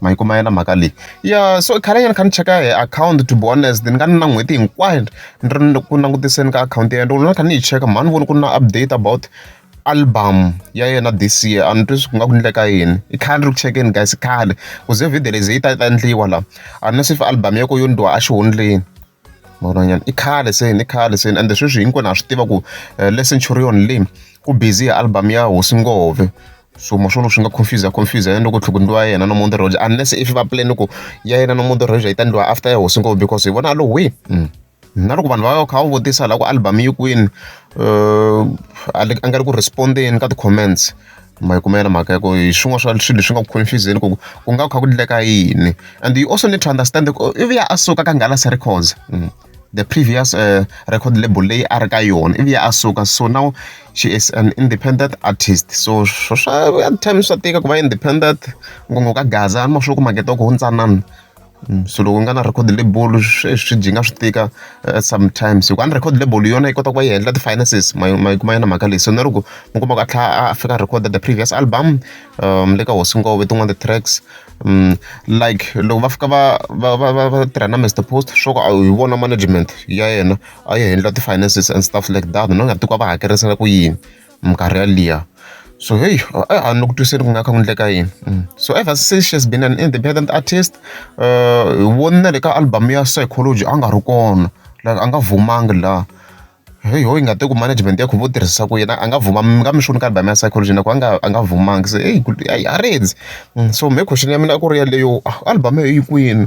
ma yi kuma yona mhaka leyi ya so khale nyana kha ni cheka hi akhawunti to be honest ni nga ni na n'hweti hinkwayo ni ri ku langutiseni ka akhawunti ya yena loko ni kha ni yi cheka mhani voni ku ri na update about album ya yena this year a ni twi swi nga ku endleka yini i khale ni ri ku chekeni guys khale ku ze video leyi ze yi ta ta endliwa la a ni swi fi album ya ko yo ndhiwa a xihundleni. Vanhwanyana i khale se ni khale se ende sweswi hinkwenu ha swi tiva ku eh, le centurion leyi ku busy hi album ya hosi ngove so maswona swi nga confuse confuse yena loko tlhoko ndliwa ya yena no mundi roja unless if va plan ku ya yena no mundi roja yi ta ndliwa after ya hosi ngove because hi vona lo we mm. na loko vanhu va kha va vutisa la ku album yi kwini uh, a nga ri ku respondeni ka ti-comments Ma yi kuma yona mhaka ya ku hi swin'wana swa swilo leswi nga ku confuse-zeni ku ku nga kha ku endleka yini and you also need to understand ku i vuya a suka ka Nghala Records the previous record label leyi a ri ka yona i vuya a suka so now she is an independent artist so swo swa at times swa tika ku va independent ngopfu ka gaza ma sure ku makete wa kona wu ntsanana. so loko u nga na record label swi dyi nga swi tika sometimes hikuva a ni record label yona yi kota ku va yi handle ti-finances ma ma yi kuma yona mhaka leyi so na loko mi kuma ku a tlha a fika record the previous album um le ka hosi ngove tin'wana ti-tracks um like loko va fika va va va va va tirha na Mister Post swo ka hi vona management ya yena a yi handle ti-finances and stuff like that na nga ti ku va hakerisela ku yini minkarhi yaliya so heyi a a ni le ku twiseni ku nga kha ku endleka yini mm. so ever since she has been an independent artist uh, hi voni na le ka album ya psychology a nga ri kona like a nga vumangi laha heyi ho yi nga te ku management ya khuvo tirhisa ku yena a nga vuma mi nga mi xoni ka album ya psychology na ku a nga a nga vumangi se heyi heyi a redzi mm, so me question ya mina a ku ri yaleyo ah, album yo yi kwini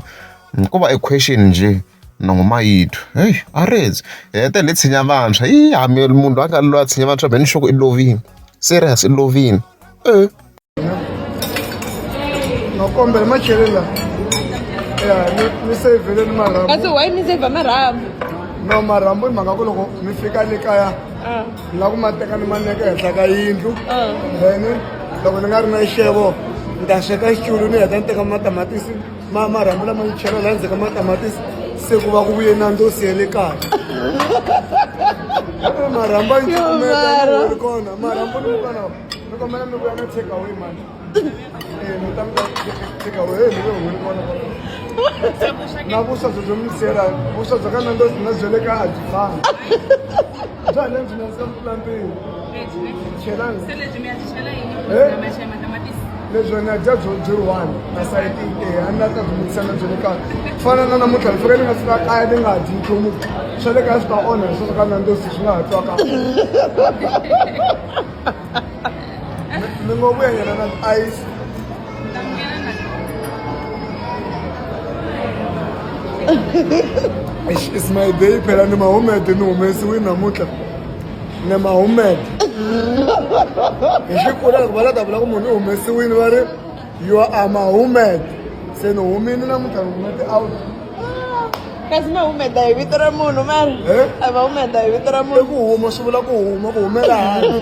mm, ko va equestion njhe Nongo Mayidu heyi Arendse hi hetelele hi tshinya vantshwa yi hambi munhu loyi a nga loyi a tshinya vantshwa be ni xoko i lovile serious i lovile e makombela ma chele la ya ni ni sevele ni marhambu kasi why mi save marhambu no marhambu i mhaka ku loko mi fika le kaya ni la ku ma teka ni ma neka henhla ka yindlu then loko ni nga ri na xevo ni ta sweka xitulu ni heta ni teka matamatisi ma marhambu lama yi chela laha ndzhaku ka matamatisi se ku va ku vuye nandzosi ya le kaya marhambu a yi cukumeta kona marhambu ni mukana ni kombela mi vuya na take away mani na vuswa byo byo mi siyela vuswa bya ka nandzosi na bya le kaya a byi fani bya hina byi nandzika ku tlula mpimo chelani se lebyi mi ya byi chela yini maxa matamatisi lebyo ni dya byo byi one na sayiti e a ni la ta dzunisa na byo le kaya ku fana na namuntlha ni fike ni nga fika kaya ni nga dyi nchumu swa le kaya swi ta onha sweswo ka nandosi swi nga ha twa ka mi ngo vuyanyana na ice It's my day phela ni mahumede ni humesiwe namuntlha ni mahumede hi xikula loko va la ta vula ku munhu i humesiwile va ri you are mahumede se ni humile namuntlha ni humete out kasi ma humeta hi vito ra munhu mari Eh? a va humeta hi vito ra i munhu ku huma swi vula ku huma ku humela handle